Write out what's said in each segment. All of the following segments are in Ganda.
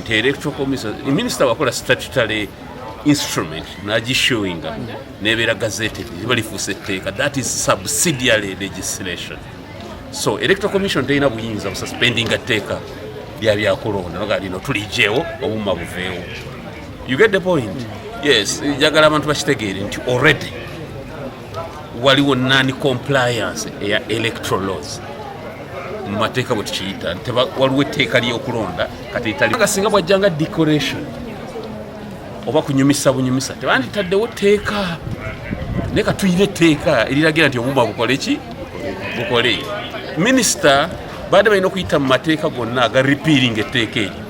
nti electoral commission minister wakola statutory instrument nagishowinga nebeera gazete liba lifuusa etteeka that is subsidiary legislation so electoral commission terina buyinza bususpendinga tteeka lya byakulonda noga lino tulijewo obuma buveewo you get the point yes njagala abantu bakitegeere nti already waliwo nani compliance eya electoral laws mu mateeka bwe tukiyita waliwo etteeka ly'okulonda kati italiga singa bwajja nga decoration oba kunyumisa bunyumisa tebanditaddewo tteeka naye katuyina etteeka eriragira nti obuma bukole ki bukole minisita baadde balina okuyita mu mateeka gonna aga repealing etteeka eryo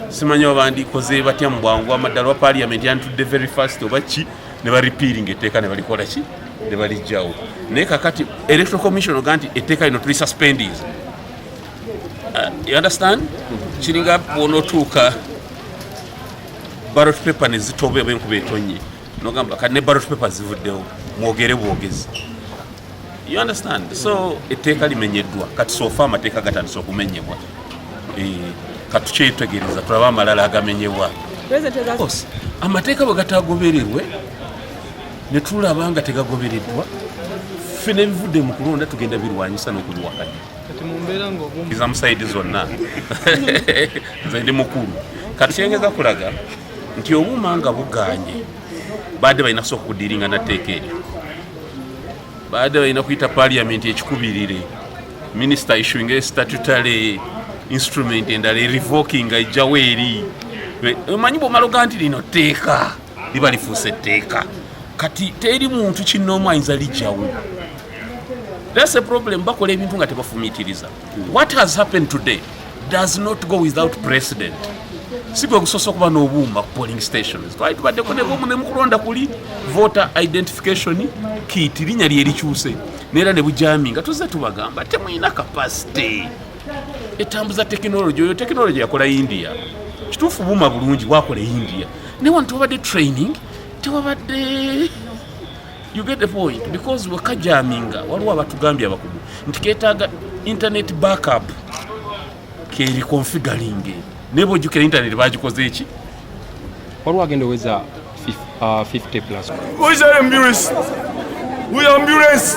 simanyi oba bandikoze batya mu bwangu amaddala oba parliament yantudde very fast oba ki ne baripiiringa etteeka ne balikola ki ne balijjawo naye kakati electoral commission oga nti etteeka lino tuli suspendis uh, you understand kiringa bwonotuuka barot paper nezitoba oba enkuba etonnye nogamba kati ne barot paper zivuddewo mwogere bwogezi you understand so etteeka limenyeddwa kati sofa amateeka gatandise okumenyebwa eh, katukyetegereza tulaba amalala agamenyebwa amateeka bwe gatagobererwe ne tulaba nga tegagobereddwa ffe nebivudde mu kulonda tugenda birwanyisa n'okubiwakanya iza musaidi zonna nze ndi mukulu kati kyengeza kulaga nti obuuma nga buganye baadde balina kusooka okudiringa natteeka eryo baadde balina kuyita paliamenti ekikubirire minisita issuinga estatutary instrument endala erevokinga ejjawo eri omanyi bwomala oga nti lino tteeka liba lifuuse etteeka kati teri muntu kinoomu ayinza lijjawo that's a problem bakola ebintu nga tebafumitiriza What has happened today does not go without precedent. Si gwe gusoose okuba n'obuuma ku polling stations. Twali tubaddeko ne buumu ne mukulonda kuli voter identification kit linnya lye likyuse neera ne bujami nga tuzze tubagamba temulina capacity etambuza tekinologi oyo tekinologi yakola india kituufu buuma bulungi bwakola e india naye wano tewabadde training tewabadde You get the point because wekajaminga waliwo abatugambye abakugu nti ketaaga internet backup keri configuring naye bwojjukira internet bagikoze eki waliwo agenda oweza 50 uh, plus ambulance